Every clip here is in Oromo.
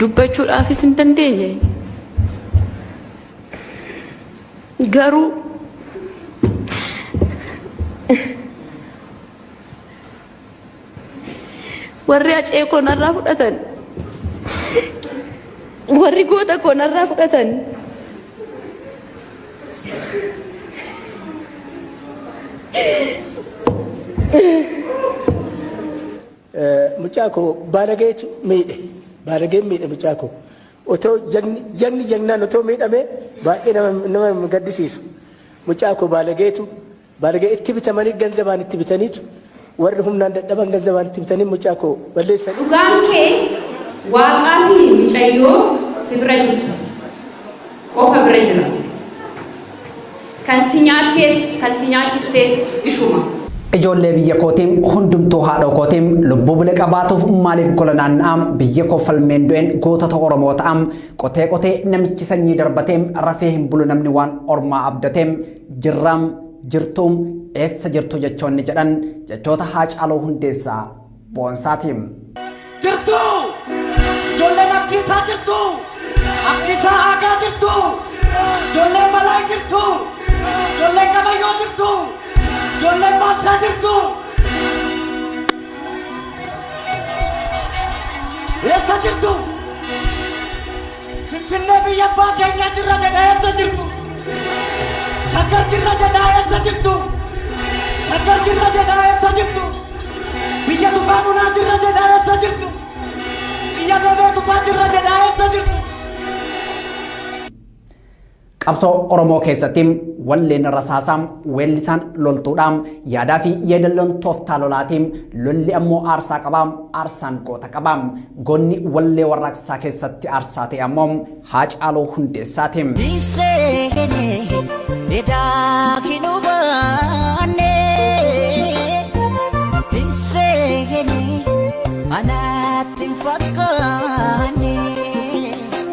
dubbachuudhaafis hin dandeenye. Garuu warri acee koo narraa fudhatan warri goota koo narraa fudhatan Mucaa koo baalageetu miidhe. Baalageen miidhe mucaa koo. Otoo jagni jagni jagnaan otoo miidhamee baay'ee nama nama gaddisiisu. Mucaa koo baalageetu baalagee itti bitamanii ganzabaan itti bitaniitu warri humnaan dadhaban ganzabaan itti bitanii mucaa koo balleessan. Dhugaan kee waaqaafi mucayyoo si bira jirtu qofa bira jira. Kan si nyaattees kan si nyaachistees ishuma. Ijoollee biyya kooti hundumtuu haadhoo kooti lubbuu bule qabaatuuf maaliif gola naanna'a biyya koo falmeen du'een gootota oromoo ta'a qotee qotee namichi sanyii darbate rafee hin bulu namni waan ormaa abdate jirra jirtu eessa jirtu jechoonni jedhan jechoota haacaaluu hundeessaa boonsaati. jirtu ijoolleen abdiisaa jirtu abdiisaa aagaa jirtu ijoolleen balaa jirtu ijoolleen gabayyoo jirtu ijoolleen boonsaa jirtu eessa jirtu Finfinnee biyya abbaa keenyaa jirra jedha eessa jirtu? Shaggar jirra jedha eessa jirtu? Shaggar jirra jedha eessa jirtu? Biyya tufaa bunaa jirra jedha eessa jirtu? Biyya bebee tufaa jirra jedha eessa jirtu? Qabsoo Oromoo keessatti walleen rasaasaa weellisaan loltuudha. Yaadaa fi yeedalloon tooftaa lolaati. Lolli ammoo aarsaa qaba. Aarsaan goota qaba. Goonni wallee warraaqsaa keessatti aarsaa ta'e ammoo Haacaaluu Hundeessaati. Anaatti hin fakkaanne.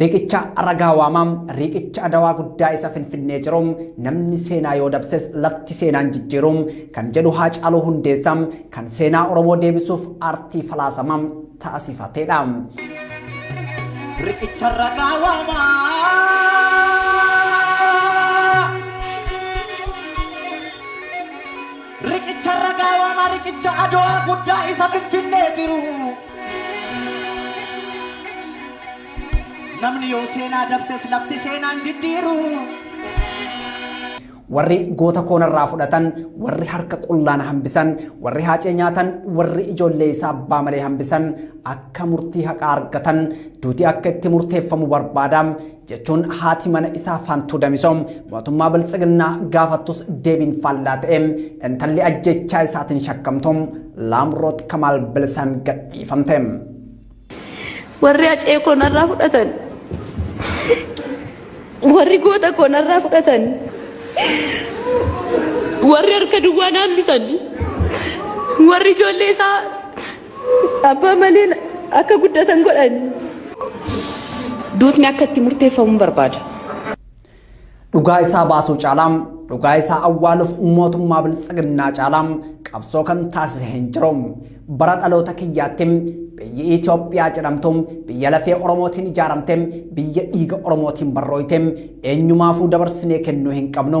Riiqicha ragaa waamaa, riiqicha adawaa guddaa isa Finfinnee jiru, namni seenaa yoo dabses lafti seenaan jijjiiru kan jedhu Haacaaluu Hundeessaa kan seenaa Oromoo deebisuuf aartii falaasama taasifateedha. Riqicha ragaa waamaa. Riqicha irra gaawama riqicha adowaa guddaa isa finfinnee jiru. Namni yoo seenaa dabses lafti seenaan jijjiiru. Warri goota koo narraa fudhatan, warri harka qullaa na hambisan, warri haacee nyaatan, warri ijoollee isaa abbaa malee hambisan akka murtii haqaa argatan duuti akka itti murteeffamu barbaada. jechuun haati mana isaa Faantuu Damisoo mootummaa Biltsiginnaa gaafattus deebiin faallaa ta'e intalli ajjechaa isaatiin shakkamtu Laamroot Kamaal bilisaan gadhiifamte. Warri acee koo narraa fudhatan. Warri goota koo narraa fudhatan. Warri harka duwwaa naambisan. Warri ijoollee isaa Abbaa malee akka guddatan godhani. Duutni akka itti murteeffamu barbaada. Dhugaa isaa baasuu caalaa dhugaa isaa awwaaluuf mootummaa biltsiginnaa caalaa qabsoo kan taasise hin jiru. Bara dhaloota kiyyaatti biyyi Itoophiyaa jedhamtu biyya lafee Oromootiin ijaaramte biyya dhiiga Oromootiin barrooyte eenyumaafuu dabarsinee kennuu hin qabnu.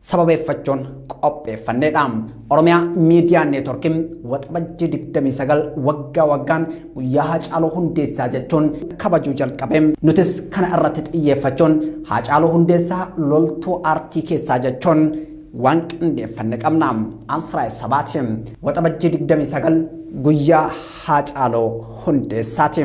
sababeeffachuun qopheeffannedha. Oromiyaa Miidiyaa Neetworkiin waxabajjii 29 waggaa waggaan guyyaa Haacaaluu Hundeessaa jechuun kabajuu jalqabe. Nutis kana irratti xiyyeeffachuun Haacaaluu Hundeessaa loltuu aartii keessaa jechuun waan qindeeffanne qabna. Ansiraay Sabaati. Waxabajjii 29 guyyaa Haacaaluu Hundeessaati.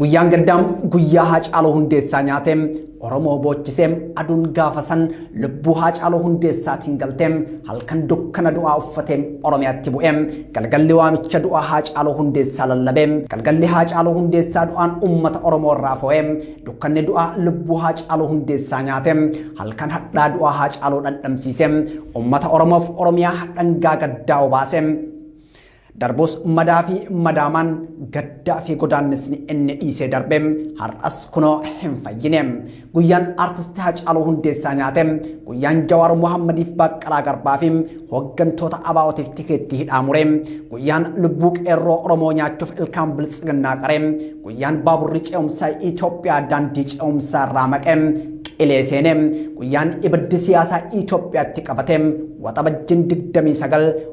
Guyyaan gaddaa guyyaa Haacaaluu Hundeessaa nyaate Oromoo boochisee aduun gaafa san lubbuu Haacaaluu Hundeessaatiin galtee halkan dukkana du'aa uffatee Oromiyaatti bu'ee galgalli waamicha du'aa Haacaaluu Hundeessaa lallabee galgalli Haacaaluu Hundeessaa du'aan uummata Oromoo irraa foo'ee dukkanni du'aa lubbuu Haacaaluu Hundeessaa nyaate halkan hadhaa du'aa Haacaaluu dhandhamsiisee uummata Oromoof Oromiyaa dhangaa gaddaa obaasee Darbus madaa fi madaamaan, gaddaa fi godaannisni inni dhiisee darbe har'as kunoo hin fayyine. Guyyaan Artisti Hacaaluu Hundeessaa nyaate, guyyaan Jawaar Mohaammadiif Baaqqalaa Garbaa fi hooggantoota ABOtiif tikeettii hidhaa mure, guyyaan lubbuu qeerroo Oromoo nyaachuuf ilkaan biltsiginnaa qare, guyyaan baaburri ce'umsaa Itoophiyaa daandii ce'umsaa irraa maqe, qilee seene, guyyaan ibiddi siyaasaa Itoophiyaatti qabate, Waxabajjiin 29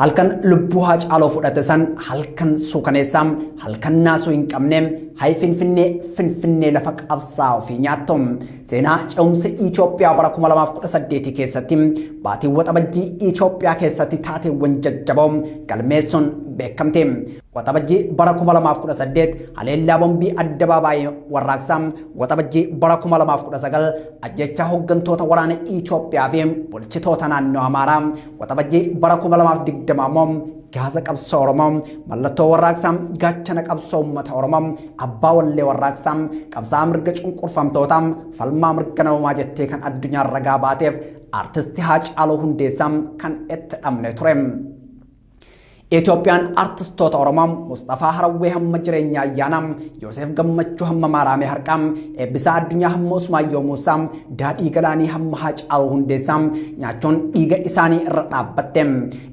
Halkan lubbuu Haacaaloo fudhate san halkan suukaneessaa, halkan naasuu hin qabne, hay Finfinnee, Finfinnee lafa qabsaa ofii nyaattu. Seenaa ce'umsa Itoophiyaa bara 2018 keessatti baatiin waxabajjii Itoophiyaa keessatti taateewwan jajjaboo galmeessuun beekamte. Waxabajjii bara 2018 haleellaa bombii addabaabaayii warraaqsaa, waxabajjii bara 2019 ajjechaa hooggantoota waraana Itoophiyaa fi bulchitoota naannoo Amaaraa, Waxabajjii bara 2020 immoo gaaza qabsoo Oromoo mallattoo warraaqsaa gaachana qabsoo uummata Oromoo abbaa wallee warraaqsaa qabsaa mirga cunqurfamtootaa falmaa mirga namoomaa jettee kan addunyaa ragaa baateef artisti Haacaaluu Hundeessaa kan itti dhabne ture. Itoophiyaan artistoota Oromoo Musxafaa Harawwee hamma jireenya ayyaanaa, Yooseef Gammachuu hamma Maaraamee Harqaa, Eebbisaa Addunyaa hamma Usmaayyoo Muusaa, Daadhii Galaanii hamma Haacaaluu Hundeessaa nyaachuun dhiiga isaanii irra dhaabbatte.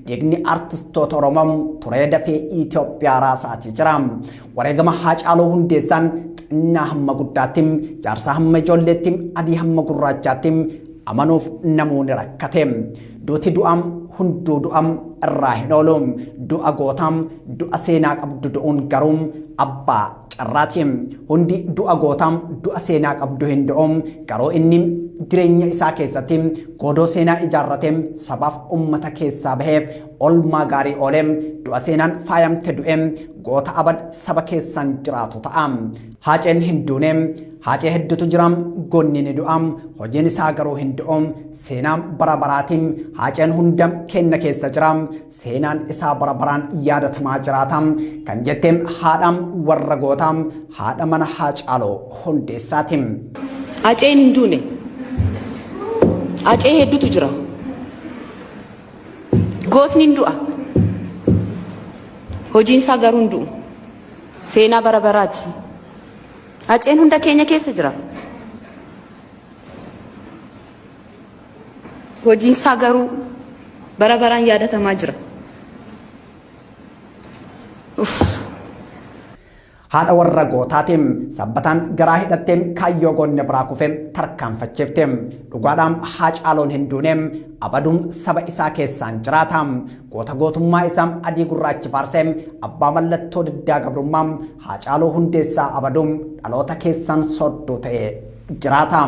Dhiigni artistoota Oromoo turee dafee Itoophiyaa raasaatii jira. Wareegama Haacaaluu Hundeessaan xinnaa hamma guddaatti, jaarsaa hamma ijoolleetti, adii hamma gurraachaatti amanuuf namuu ni rakkate. Duuti du'aam hunduu du'aam irraa hin oolu du'a gootaam du'a seenaa qabdu du'uun garuu abbaa carraati hundi du'a gootaam du'a seenaa qabdu hin du'u garuu inni jireenya isaa keessatti goodoo seenaa ijaarratee sabaaf ummata keessaa baheef olmaa gaarii oolee du'a seenaan faayamte du'e goota abad saba keessaan jiraatu ta'a haaceen hin duune haacee hedduutu jiraam gonni ni du'aam hojiin isaa garuu hin du'u Seenaa bara baraatiin Haaceen hunda keenna keessa jira. Seenaan isaa bara baraan yaadatamaa jiraata. Kan jette haadha warra gootaa, haadha mana Haacaaloo Hundeessaati. Haceen hin duune. Hacee hedduutu jira. Gootni hin du'a. Hojiin isaa garuu hin du'u. Seenaa bara baraati. Haceen hunda keenya keessa jira. Hojiin isaa garuu bara baraan yaadatamaa jira. Haadha warra gootaatiin sabbataan garaa hidhatteen kaayyoo goonne biraa kufee tarkaanfachiifte. Dhugaadhaam Haacaaluun hin duune abaduun saba isaa keessaan jiraata. Goota gootummaa isaa adii gurraachi faarsee abbaa mallattoo diddaa gabrummaa Haacaaluu hundeessaa abaduun dhaloota keessaan soodduu ta'e jiraata.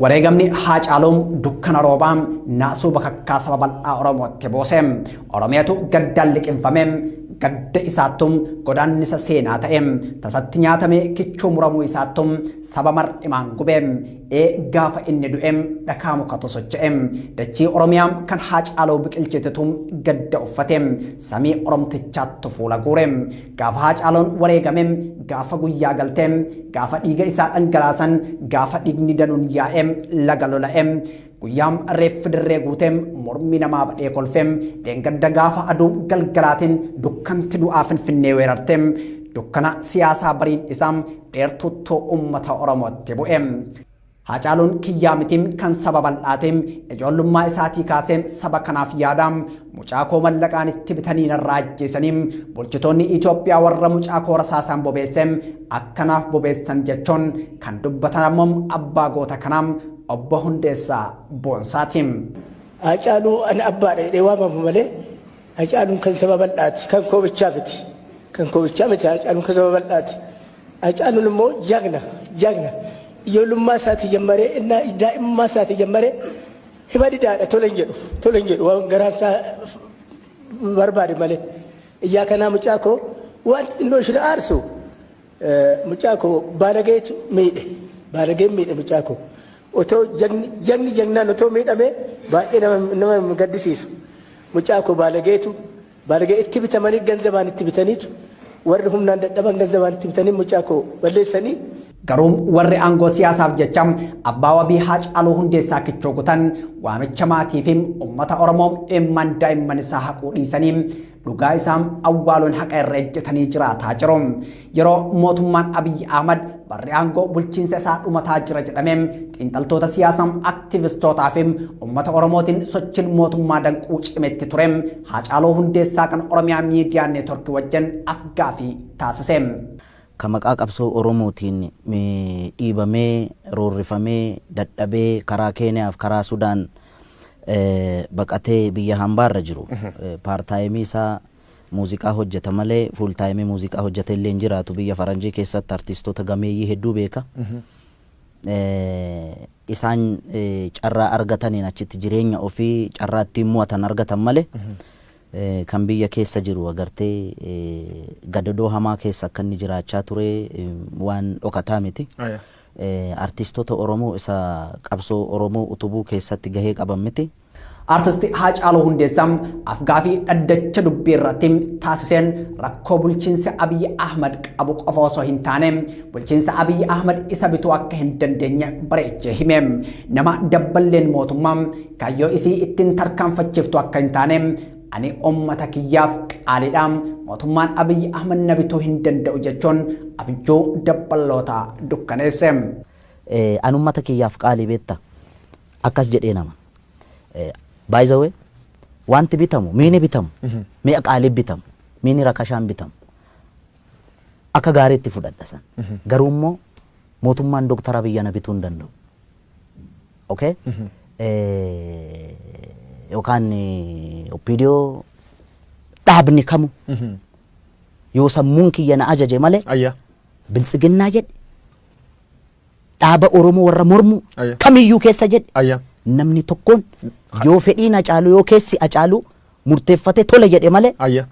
Wareegamni Haacaaluu dukkana roobaa naasuu bakakkaa saba bal'aa Oromootti buuse. Oromiyatu gaddaan liqimfame. Gadda isaattu godaannisa seenaa ta'e. Tasatti nyaatamee kichuu muramuu isaattu saba mar'imaan gube. Ee gaafa inni du'e dhakaa mukatu socho'e. Dachii Oromiyaa kan Haacaaluu biqilchitetu gadda uffate. Samii Oromtichaattu fuula guure. Gaafa Haacaalon wareegame, gaafa guyyaa galte, gaafa dhiiga isaa dhangalaasan, gaafa dhiigni danuun yaa'e, laga lola'e, guyyaa reeffi dirree guute, mormi namaa badhee kolfe, dheengadda gaafa aduu galgalaatiin dukkanti du'aa Finfinnee weerarte, dukkana siyaasaa bariin isaa dheertuuttuu uummata Oromootti bu'e. Haacaaluun kiyyaa miti kan saba bal'aati. Ijoollummaa isaatii kaasee saba kanaaf yaada. Mucaa koo mallaqaan itti bitanii narraa ajjeesanii bulchitoonni Itoophiyaa warra mucaa koo rasaasaan bobeesse akkanaaf bobeessan jechuun kan dubbatan ammoo abbaa goota kanaa obbo Hundeessaa Boonsaati. Haacaaluu ani abbaadha jedhee waamamu malee Hacaaluun kan saba bal'aati. Kan koo bichaa miti. Kan koo bichaa miti Hacaaluun kan saba bal'aati. Hacaaluun immoo jagna jagna ijoollummaa isaatii jammaree innaa daa'imummaa isaatii jammaree hima didaadha tole hin jedhu tole hin jedhu waan garaan isaa barbaade malee. Ijaa kanaa mucaa koo wanti xinnoo isheen aarsu Mucaa koo baalageetu miidhe. Baalageen miidhe mucaa koo. Otoo jagni jagni jagnaan otoo miidhamee baay'ee nama nama hin gaddisiisu. Mucaa koo baalageetu baalagee itti bitamanii ganzabaan itti bitaniitu warri humnaan dadhaban ganzabaan itti bitanii mucaa koo balleessanii Garuu warri aangoo siyaasaaf jecha abbaa wabii Haacaaluu Hundeessaa kichoo kutan waamicha maatii fi uummata Oromoo imimmaan daa'imman isaa haquu dhiisanii Dhugaa isaa awwaaluun haqa irra ejjetanii jiraataa jiru. Yeroo mootummaan Abiyyi Ahmad barri aangoo bulchiinsa isaa dhumataa jira jedhame xiinxaltoota siyaasaa aktiivistootaa fi uummata Oromootiin sochiin mootummaa danquu cimetti ture Haacaaluu Hundeessaa kan Oromiyaa Miidiyaa Neetworkii wajjin afgaafii taasise. Ka maqaa qabsoo Oromootiin dhiibamee, roorrifamee, dadhabee karaa Keeniyaaf karaa Sudaan eh, baqatee biyya hambaarra jiru paartaayimii isaa muuziqaa hojjeta malee fuultaayimii muuziqaa hojjeta illee hin jiraatu biyya faranjii keessatti artistoota gameeyyii hedduu beeka. Eh, isaan eh, carraa argataniin achitti jireenya ofii carraa ittiin mo'atan argatan malee eh, kan biyya keessa jiru agartee eh, gadadoo hamaa keessa akka inni jiraachaa ture eh, waan dhokataa miti. Aya. Artiistota Oromoo isa qabsoo Oromoo utubuu keessatti gahee qaban miti. Artist Haacaaluu Hundeessaa afgaafii dhaddacha dubbii irratti taasiseen rakkoo bulchiinsi Abiy Ahmad qabu qofa osoo hin taane bulchiinsa Abiy Ahmad isa bituu akka hin dandeenye bareechee hime. Nama dabballeen mootummaa kaayyoo isii ittiin tarkaanfachiiftu akka hin taane Ani ummata kiyyaaf qaalidha, mootummaan Abiy Ahmed na bituu hin danda'u jechuun abjuu dabballoota dukkaneesse. Ani ummata kiyyaaf qaalii beetta akkas jedhee nama. By the way, wanti bitamu, miini bitamu, mi'a qaalii bitamu, miini rakashaan bitamu. Akka gaariitti fudhadha san. Garuu immoo mootummaan Dr. Abiy ana bituu hin danda'u. ok yookaan opdo dhaabni kamu yoo sammuun kiyya na ajaje malee Ayya. biltsiginnaa jedhe dhaaba oromoo warra mormu Ayya. kamiyyuu keessa jedhe Ayya. namni tokkoon yoo fedhiin acaalu yoo keessi acaalu murteeffate tole jedhe malee Ayya.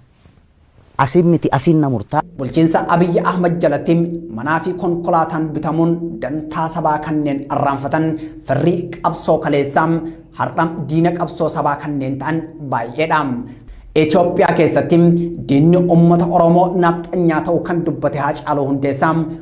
Asiin miti asiin na murtaa. Bulchiinsa Abiy Ahmad jalatti manaa fi konkolaataan bitamuun dantaa sabaa kanneen arraanfatan firri qabsoo kaleessaa har'a diina qabsoo sabaa kanneen ta'an baay'eedha. Itoophiyaa keessatti diinni uummata Oromoo Nafxanyaa ta'uu kan dubbate Haacaaluu Hundeessaa,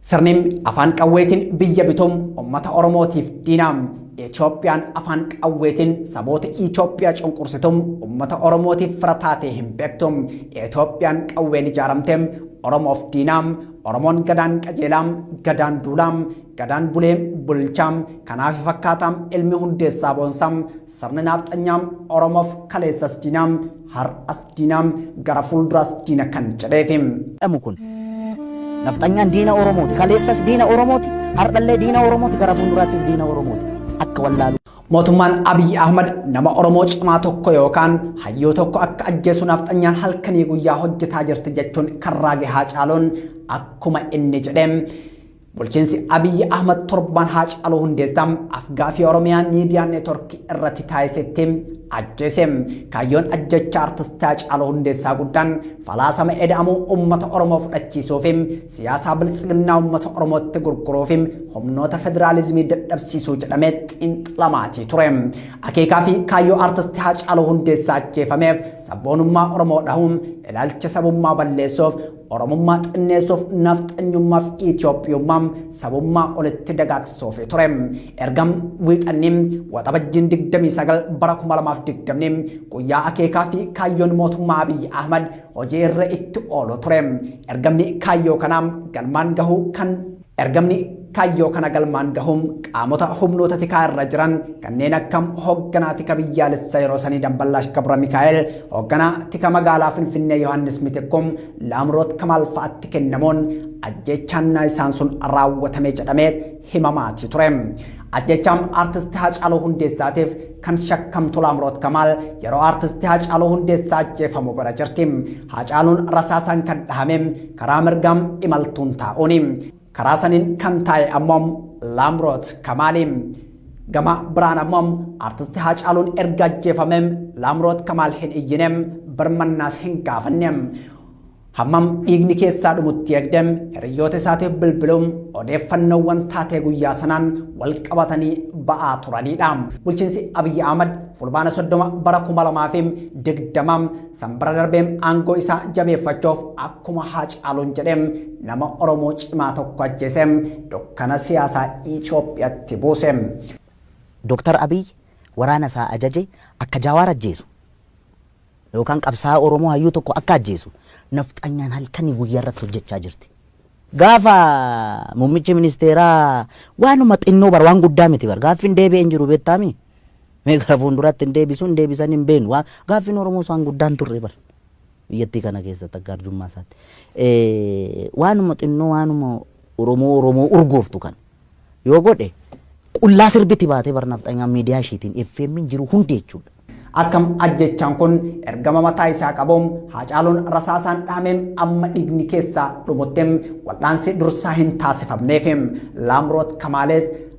Sirni afaan qawweetiin biyya bitu ummata Oromootiif diina. Itoophiyaan afaan qawweetiin saboota Itoophiyaa cunqursitu ummata Oromootiif fira taatee hin beektu. Itoophiyaan qawween ijaaramte Oromoof diina. Oromoon gadaan qajeelaa, gadaan duulaa, gadaan bulee bulchaa, kanaafi fakkaataa ilmi hundeessaa boonsaa, Sirni naafxanyaa Oromoof kaleessas diina, har'as diina, gara fuulduraas diina kan jedheefi. jedhamu kun. Nafxanyaan diina Oromooti. Kaleessas diina Oromooti. Har'allee diina Oromooti. Gara fuulduraattis diina Oromooti. Akka wallaaluu. Mootummaan Abiy Ahmad nama Oromoo cimaa tokko yookaan hayyuu tokko akka ajjeesu naafxanyaan halkanii guyyaa hojjetaa jirti jechuun kan raage Haacaaluun akkuma inni jedhe Bulchiinsi Abiyyi Ahmad torbaan Haacaaluu Hundeessaa afgaafii Oromiyaa miidiyaa neetworkii irratti taasisetti ajjeese. Kaayyoon ajjeechaa artisti Haacaaluu Hundeessaa guddaan falaasama eda'amuu uummata Oromoo fudhachiisuu fi siyaasaa biltsiginnaa uummata Oromootti gurguruu fi humnoota federaalizimii dadhabsiisuu jedhamee xiinxalamaatii ture. Akeekaa fi kaayyoo artisti Haacaaluu Hundeessaa ajjeefameef sabboonummaa Oromoo dhahuun ilaalcha sabummaa balleessuuf Oromummaa xinneessuuf nafxanyummaaf Itoophiyummaa sabummaa olitti dagaagsuuf ture. Erga wiixanni waxabajjiin 29 bara 2020 guyyaa akeekaa fi kaayyoon mootummaa Abiyyi Ahmad hojii irra itti oolu ture. Ergamni kaayyoo kanaa galmaan gahuu kan Ergamni kaayyoo kana galmaan gahuun qaamota humnoota tikaa irra jiran kanneen akka hoogganaa tika biyyaalessa yeroo sanii Damballaash Gabra Mikaa'el, hoogganaa tika magaalaa Finfinnee Yohaannis Mitikkum, Laamroot Kamaal fa'atti kennamuun ajjeechaan naayisaan sun raawwatame jedhamee himamaatii ture. Ajjeechaan Artist Haacaaluu Hundeessaatiif kan shakkamtu Laamroot Kamaal yeroo Artist Haacaaluu Hundeessaa ajjeefamu bira jirti. Haacaaluun rasaasaan kan dhahame karaa mirgaa imaltuun taa'uuni. Karaa saniin kan taa'e ammoo Laamroot Kamaali. Gama biraan ammoo artisti Haacaaluun erga ajjeefame Laamroot Kamaal hin iyyine, birmannaas hin gaafanne. Hammam dhiigni keessaa dhumutti eegde hiriyyoota isaatiif bilbiluun odeeffannoowwan taatee guyyaa sanaan wal qabatanii ba'aa turanidha. Bulchiinsi Abiyyi Ahmad fulbaana 30 bara 2020 Sanbira darbe aangoo isaa jabeeffachuuf akkuma Haacaaluun jedhe nama Oromoo cimaa tokko ajjeese dukkana siyaasaa Itoophiyatti buuse. Doktar Abiy waraana isaa ajaje akka Jaawaar ajjeesu yookaan qabsaa'aa Oromoo hayyuu tokko akka ajjeesu nafxanyaan halkanii guyyaa irratti hojjechaa jirti. Gaafa muummichi ministeeraa waanuma xinnoo bar waan guddaa miti bar gaaffiin deebi'e hin jiru beektaami. Mee gara fuulduraatti hin deebisu, hin deebisanii hin beeknu. Waan gaaffiin Oromoos waan guddaan turre bar. Biyyattii kana keessatti akka arjummaa isaatti. Eh, Waanuma xinnoo waanuma Oromoo Oromoo urgooftu kan yoo godhe qullaa sirbiti baatee bar nafxanyaa miidiyaa ishiitiin FM'n jiru hundi jechuudha. Akkam ajjechaan kun ergama mataa isaa qabu haacaaluun rasaasaan dhaamee amma dhiigni keessaa dhumutti wal'aansi dursaa hin taasifamneef laamroot kamaalees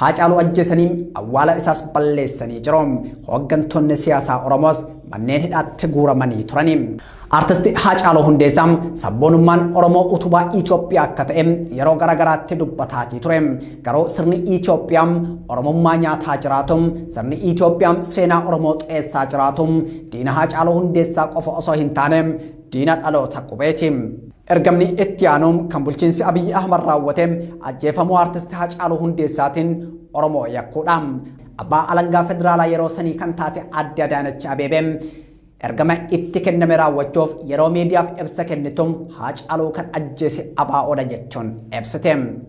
Haacaaluu ajjeesanii awwaala isaas balleessanii jiru. Hooggantoonni siyaasaa Oromoos manneen hidhaatti guuramanii turani. Artisti Haacaaluu Hundeessaa sabboonummaan Oromoo utubaa Itoophiyaa akka ta'e yeroo garaagaraatti dubbataatii ture. Garuu sirni Itoophiyaa Oromummaa nyaataa jiraatu, sirni Itoophiyaa seenaa Oromoo xureessaa jiraatu, diina Haacaaluu Hundeessaa qofa osoo hin taane Diina dhaloota qubeeti. Ergamni itti aanu kan bulchiinsi Abiyyi Ahmad raawwate ajjeefamuu Artisti Hacaaluu Hundeessaatiin Oromoo yakkuudha. Abbaa Alangaa Federaalaa yeroo sanii kan taate Aadde Adaanach Abeebee ergama itti kenname raawwachuuf yeroo miidiyaaf ibsa kennitu Haacaaluu kan ajjeese ABOdha jechuun ibsite.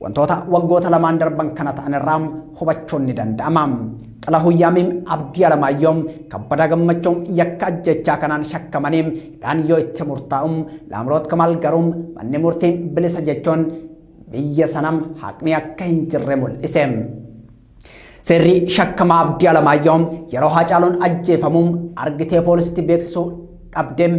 Wantoota waggoota lamaan darban kana ta'an irraa hubachuun ni danda'ama. Xilahun Yaamiim Abdii Alamaayyoo Kabbadaa Gammachuu yakka ajjechaa kanaan shakkamanii hidhaan yoo itti murtaa'u Laamroot Kamaal garuu manni murtii bilisa jechuun biyya sanam haqni akka hin jirre mul'ise. Seerri shakkamaa Abdii Alamaayyoo yeroo Haacaaluun ajjeefamu argitee poolisitti beeksisuu dhabdeem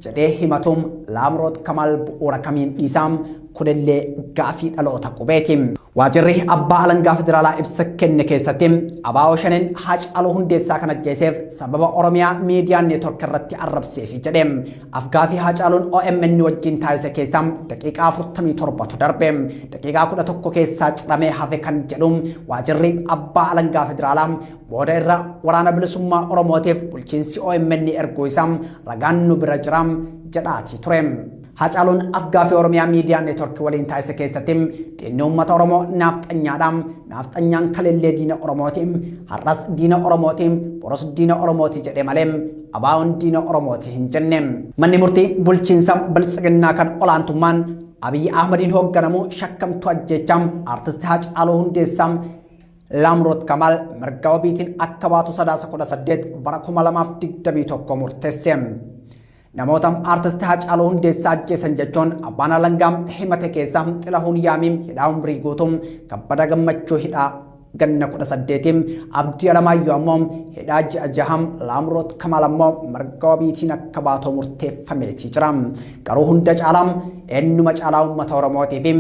jedhee himatuum Laamroot Kamaal bu'uura kamiin dhiisaam kunillee gaafii dhaloota qubeeti. Waajirri abbaa alangaa federaalaa ibsa kenne keessatti abaa'oo shaneen Haacaaluu Hundeessaa kan ajjeeseef sababa Oromiyaa miidiyaa neetwork irratti arrabseefi jedhe. Afgaaffii Haacaaluun omn wajjin taasise keessaa daqiiqaa 47tu darbe. Daqiiqaa 11 keessaa ciramee hafe kan jedhu waajirri abbaa alangaa federaalaa booda irra waraana bilisummaa Oromootiif bulchiinsi omn erguu isaa ragaan nu bira jira jedhaatii ture. Haacaaluun afgaaffii Oromiyaa miidiyaa neetworkii waliin taasise keessatti diinni uummata Oromoo naafxanyaadha. Naafxanyaan kaleellee diina Oromooti. Har'as diina Oromooti. Boros diina Oromooti jedhe malee ABOn diina Oromooti hin jenne. Manni murtii bulchiinsa Biltsiginnaa kan olaantummaan Abiyyi Ahmadiin hoogganamu shakkamtuu ajjeechaa Artisti Haacaaluu Hundeessaa Laamroot Kamaal mirga wabiitiin akka baatu sadaasa 18 bara 2021 murteesse. Namoota Artisti Haacaaluu Hundeessaa ajjeesan jechuun abbaan alangaa himate keessaa Xilahuun Yaamii hidhaa umrii guutuu kabbada gammachuu hidhaa Ganna 18 Abdii Alamaayyoo ammoo hidhaa ji'a jaha, Laamroot Kamaal ammoo mirga wabiitiin akka baatoo murteeffameetii jira. Garuu hunda caalaa eenyuma caalaa uummata Oromootii fi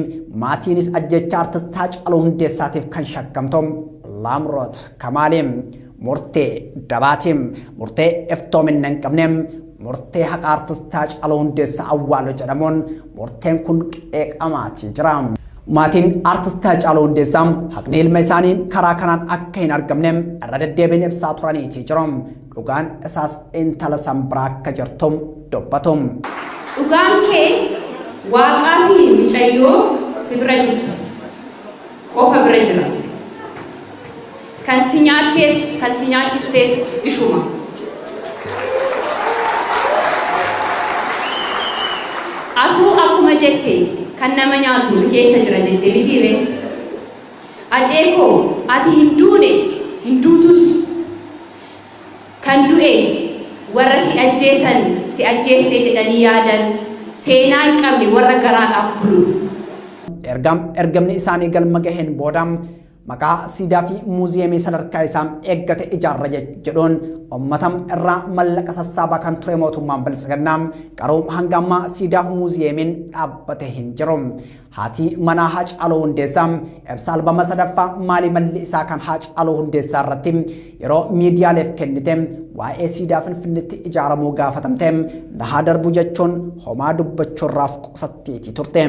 maatiinis ajjeechaa artist Haacaaluu Hundeessaatiif kan shakkamtu Laamroot Kamaali. Murtee dabaati, murtee iftoominna hin qabne, murtee haqaa artist Haacaaluu Hundeessaa awwaalu jedhamuun murteen kun qeeqamaatii jira. Maatiin artist Haacaaluu Hundeessaa haqni ilma isaanii karaa kanaan akka hin argamne irra deddeebiin ibsaa turaniitii jiru. Dhugaan isaas intala san biraa akka jirtu dubbatu. Dhugaan kee waaqaa fi mucayyoo si bira jirtu qofa bira jira. Kan si nyaattees kan si nyaachistees ishuma. Atuu akkuma jette kan nama nyaatu nu keessa jira jette mitii ree? Acee koo ati hin duune hin duutus. Kan du'e warra si ajjeesan si ajjeeste jedhanii yaadan seenaa hin qabne warra garaadhaaf bulu. Erga ergamni isaanii galma gaheen booda. Maqaa siidaa fi muuziyeemii sadarkaa isaa eeggate ijaarra jedhuun ummata irraa mallaqa sassaabaa kan ture mootummaan biltsiginnaa garuu hanga ammaa siidaa muuziyeemiin dhaabbate hin jiru. Haatii manaa Haacaaluu Hundeessaa ibsa albama sadaffaa maalii malli isaa kan Haacaaluu Hundeessaa irratti yeroo miidiyaaleef kennite waa'ee siidaa Finfinneetti ijaaramuu gaafatamte na haa darbu jechuun homaa dubbachuurraaf qusatteetii turte.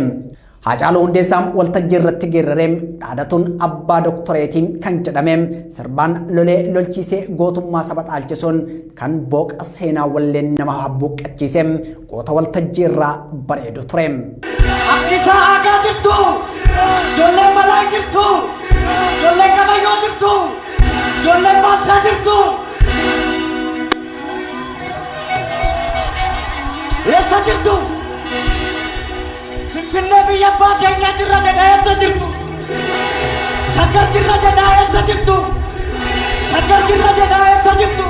Haacaaluu Hundeessaa waltajjii irratti geerraree dhaadatuun abbaa doktoreetii kan jedhame sirbaan lolee lolchiisee gootummaa saba dhaalchisuun kan booqa seenaa walleen nama habbuuqqachiise goota waltajjii irraa bareedu ture. Haqqisaa haqaa jirtu, ijoolleen balaa jirtu, ijoolleen qabayyoo jirtu, ijoolleen baalchaa jirtu. Eessa jirtu? Finfinnee biyya abbaa keenyaa jirra jedha eessa jirtu? Shaggar jirra jedha eessa jirtu? Shaggar jirra jedha eessa jirtu?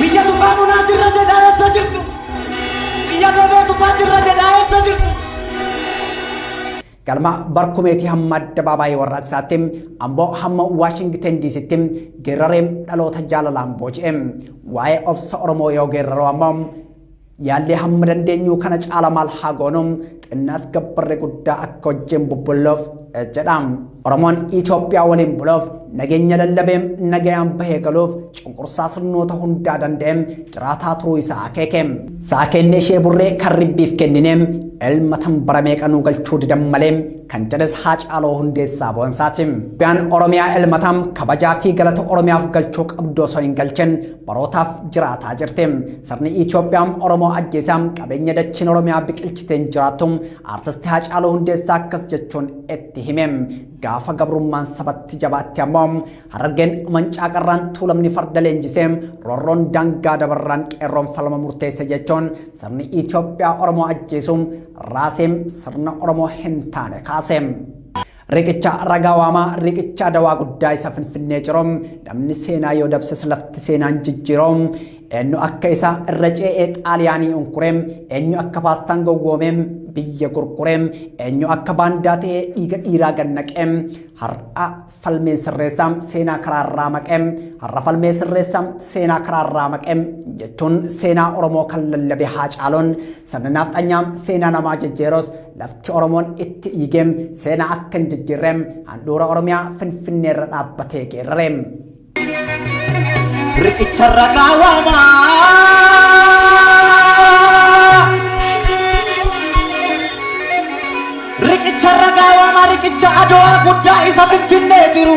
Biyya tufaa munaa jirra jedha eessa jirtu? Biyya dhoobee tufaa jirra jedha eessa jirtu? Galma barkumeetii hamma addabaabaayii warraaqsaatti amboo hamma Waashingiten diisitti geerraree dhaloota jaalalaan booji'e. Waa'ee obsa Oromoo yoo geerraroo ammoo Yaallee hamma dandeenyu kana caala maal haa goonu xinnaas gabbarre guddaa akka wajjin bubbulluuf jedha. Oromoon Itoophiyaa waliin buluuf nageenya lallabee nagayaan bahee galuuf cunqursaa sirnoota hundaa danda'ee jiraataa turuu isaa akeeke. Sa'a keennee ishee burree kan ribbiif kennine ilma tan bara meeqa nuu galchuu didan malee kan jedhes Haacaaluu Hundeessaa Boonsaati. Biyaan Oromiyaa ilmataan kabajaa fi galata Oromiyaaf galchuu qabdu osoo hin galchin Barootaaf jiraataa jirti. Sirni Itoophiyaa Oromoo ajjeesaa qabeenya dachiin Oromiyaa biqilchiteen jiraattu aartisti Haacaaluu Hundeessaa akkas jechuun itti hime. Gaafa gabrummaan sabatti jabaatti ammoo harargeen mancaa qarraan tuulamni farda leenjisee roorroon daangaa dabarraan qeerroon falma murteesse jechuun sirni Itoophiyaa Oromoo ajjeesu raasee sirna Oromoo hin taane kaase. Riqicha ragaa waamaa riqicha dawaa guddaa isa finfinnee ciroo namni seenaa yoo dabses lafti seenaan jijjiiroo eenyu akka isaa irra ce'ee xaaliyaanii unkuree eenyu akka paastaan gowwoomee biyya gurguree eenyu akka baandaa ta'ee dhiiga dhiiraa gannaqee har'a falmeen sirreessaa seenaa karaarraa maqee har'a falmee sirreessaa seenaa karaarraa maqee jechuun seenaa Oromoo kan lallabe haa caaloon Sirni naafxanyaa seenaa namaa jijjiirus lafti Oromoon itti dhiigee seenaa akka hin jijjiirre handhuura Oromiyaa Finfinnee irra dhaabbatee geerrare. Riqicharra kaawama. Riqicharra kaawama riqicha adoo guddaa isa Finfinnee jiru.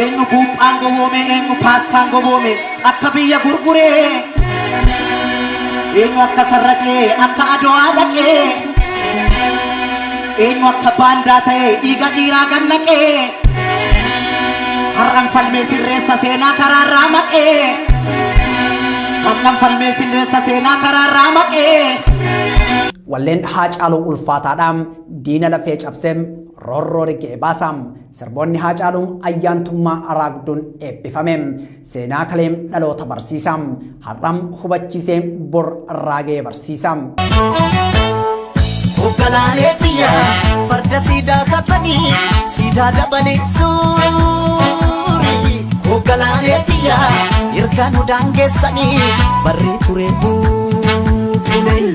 Eenyu buuphaan goboome eenyu paastaan goboome akka biyya gurguree eenyu akka sarracee akka adowaa dhaqee eenyu akka baandaa ta'e dhiiga dhiiraa gannaqee har'an falmee sirreessa seenaa karaarraa maqee har'an falmee sirreessa seenaa karaarraa maqee. Walleen Haacaaluu ulfaataadha. Diina lafee cabsee Rorroo rigee baasa. Sirboonni Haacaaluun ayyaantummaa araagduun eebbifame. Seenaa kaleem dhaloota barsiisa. Har'am hubachiisee bor raagee barsiisa. Hogganaalee tiyya farda siidaa kaasanii siidaa dabalee suurii. Hogganaalee tiyya hirkaan hudaan geessanii barree turee buutulee.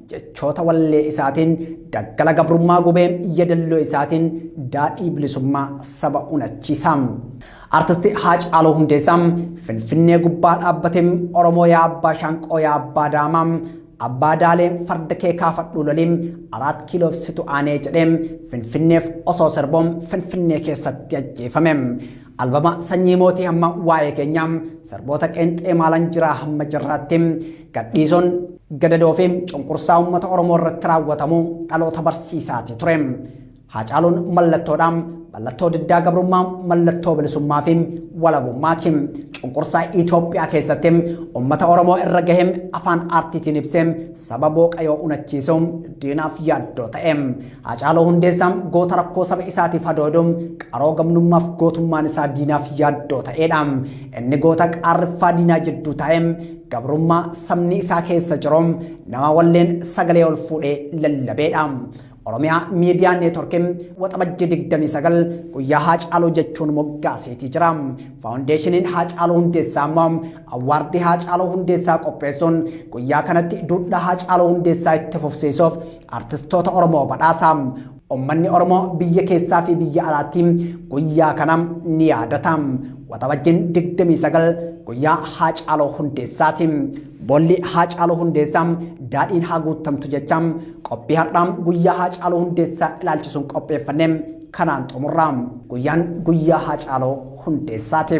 Jechoota wallee isaatiin daggala gabrummaa gubee yadalloo isaatiin daadhii bilisummaa saba unachiisa. Artisti Haacaaluu Hundeessaa Finfinnee gubbaa dhaabbate Oromoo yaa abbaa shaanqoo yaa abbaa daamaa abbaa daalee farda kee kaafadhuu loliin araat kiiloof situ aanee jedhee Finfinneef osoo sirboo Finfinnee keessatti ajjeefame. Albama sanyii mootii hamma waa'ee keenya sirboota qeenxee maalan jiraa hamma jirraatti gadhiisoon gadadoo fi cunqursaa uummata Oromoo irratti raawwatamu dhaloota barsiisaati ture. Haacaaluun mallattoodha. Mallattoo diddaa gabrummaa, mallattoo bilisummaa fi walabummaati. Cunqursaa Itoophiyaa keessatti uummata Oromoo irra gahe afaan aartiitiin ibsee saba booqayoo unachiisuu diinaaf yaaddoo ta'e. Haacaaluu Hundeessaa goota rakkoo saba isaatiif hadoodu, qaroo gamnummaaf gootummaan isaa diinaaf yaaddoo ta'eedha. Inni goota qaarriffaa diinaa jidduu taa'e, gabrummaa sabni isaa keessa jiru, nama walleen sagalee ol fuudhee lallabeedha. Oromiyaa Miidiyaa Neetworkii Waxabajjii 29 guyyaa Haacaaluu jechuun moggaaseetii jira. Faawundeeshiniin Haacaaluu Hundeessaa immoo awwaardii Haacaaluu Hundeessaa qopheessuun guyyaa kanatti duudhaa Haacaaluu Hundeessaa itti fufsiisuuf Artistoota Oromoo Badhaasaa! Ummanni Oromoo biyya keessaa fi biyya alaatti guyyaa kana ni yaadata. Waxabajjiin 29 guyyaa Haacaaluu Hundeessaati. Boolli Haacaaluu Hundeessaa daadhiin haa guuttamtu jecha qophii har'aa guyyaa Haacaaluu Hundeessaa ilaalchisuun qopheeffanne kanaan xumurra. Guyyaan guyyaa Haacaaluu Hundeessaati.